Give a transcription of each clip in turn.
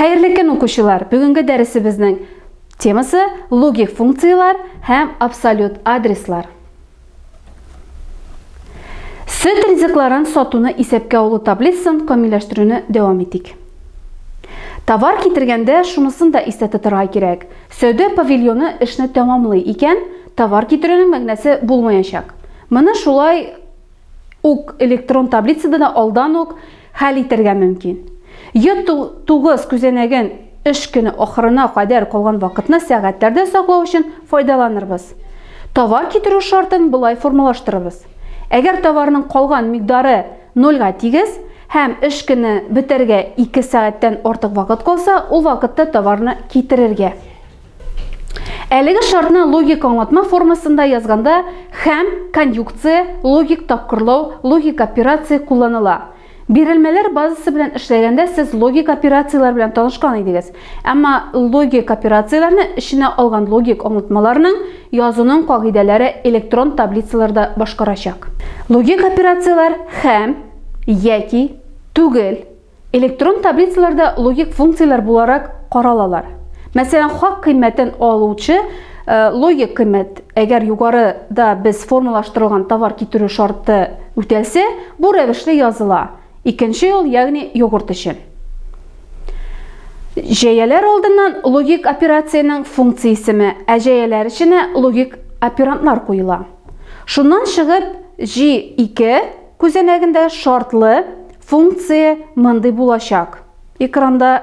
Хәерле көн, укучылар! Бүгенге дәресебезнең темасы логик функцияләр һәм абсолют адреслар. Сөт ризыкларын сатуны исәпкә алу таблицасын камилләштерүне дәвам итик. Товар китергәндә шунысын да истә тотырга кирәк. Сәүдә павильоны эшне тәмамлый икән, товар китерүнең мәгънәсе булмаячак. Моны шулай ук электрон таблицада да алдан ук хәл итәргә мөмкин. Йод 9 күзәнәген эш көне ахырына кадәр калган вакытны сәгатьләрдә саклау өчен файдаланырбыз. Товар китерү шартын болай формалаштырырбыз. Әгәр товарның калган микъдары 0-га тигез һәм эш көне бетәргә 2 сәгатьтән артык вакыт калса, ул вакытта товарны китерергә. Әлеге шартны логик аңлатма формасында язганда хәм, конъюкция, логик тапкырлау, логик операция кулланыла. Бирелмәләр базасы белән эшләгәндә сез логик операцияләр белән танышкан идегез. Әмма логик операцияләрне эченә алган логик аңлатмаларның язуның кагыйдәләре электрон таблицаларда башкарачак. Логик операцияләр хәм, яки, түгел, Электрон таблицалар да логик функцияләр буларак каралалар. Мәсәлән, хак кыйммәтен алучы Э, логик кыйммәт әгәр югарыда без формалаштырылган товар китерү шарты үтәлсә бу рәвешле языла икенче юл ягъни йогурт өчен җәяләр алдыннан логик операциянең функция исеме ә җәяләр эченә логик операндлар куела шуннан чыгып g2 Күзәнәгендә шартлы функция мондый булачак. Экранда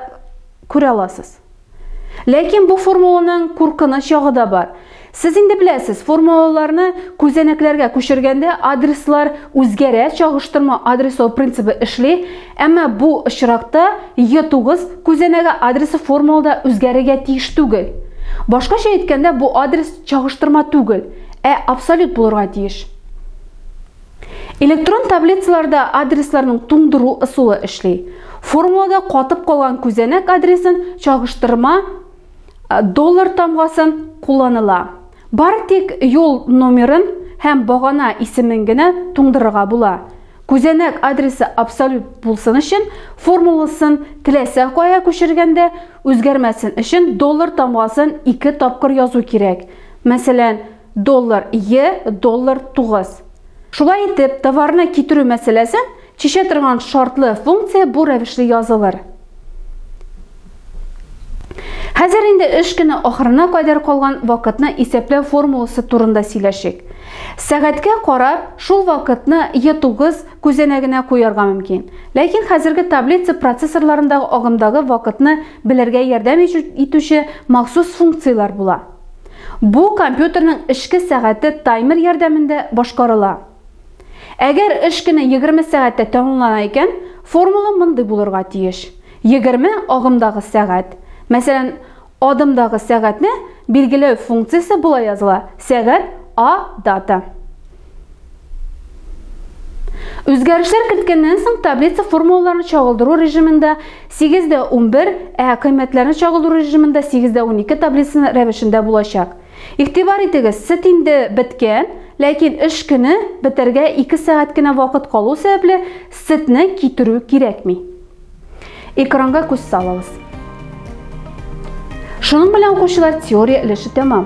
күрә аласыз. Ләкин бу формуланың куркыныч ягы да бар. Сез инде беләсез, формулаларны күзәнәкләргә күчергәндә адреслар үзгәрә, чагыштырма адреслау принцибы эшли, әмма бу очракта Е9 күзәнәге адресы формулада үзгәрергә тиеш түгел. Башкача әйткәндә, бу адрес чагыштырма түгел, ә абсолют булырга тиеш. Электрон таблицаларда адресларның туңдыру ысулы эшли. Формулада катып калган күзәнәк адресын чагыштырма доллар тамгасын кулланыла. Бары тик юл номерын һәм багана исемен генә туңдырырга була. Күзәнәк адресы абсолют булсын өчен формуласын теләсә кая күчергәндә үзгәрмәсен өчен доллар тамгасын ике тапкыр язу кирәк. Мәсәлән, Доллар е, доллар тугыз. Шулай итеп, товарны китерү мәсьәләсен чишә торган шартлы функция бу рәвешле язылыр. Хәзер инде эш көне ахырына кадәр калган вакытны исәпләү формуласы турында сөйләшик. Сәгатькә карап, шул вакытны Е9 күзәнәгенә куярга мөмкин. Ләкин хәзерге таблица процессорларындагы агымдагы вакытны белергә ярдәм итүче махсус функцияләр була. Бу компьютерның эшке сәгате таймер ярдәмендә башкарыла. Әгәр эш көне 20 сәгатьтә тәмамлана икән, формула мондый булырга тиеш. 20 агымдагы сәгать. Мәсәлән, адымдагы сәгатьне билгеләү функциясе болай языла, сәгать, а, дата. Үзгәрешләр керткәннән соң таблица формулаларны чагылдыру режимында 8 дә 11, ә кыйммәтләрне чагылдыру режимында 8 дә 12 таблицасы рәвешендә булачак. Игътибар итегез, сөт инде беткән, ләкин эш көне бетәргә 2 сәгать кенә вакыт калу сәбәпле, сөтне китерү кирәкми. Экранга күз салыгыз. Шуның белән укучылар теория өлеше тәмам.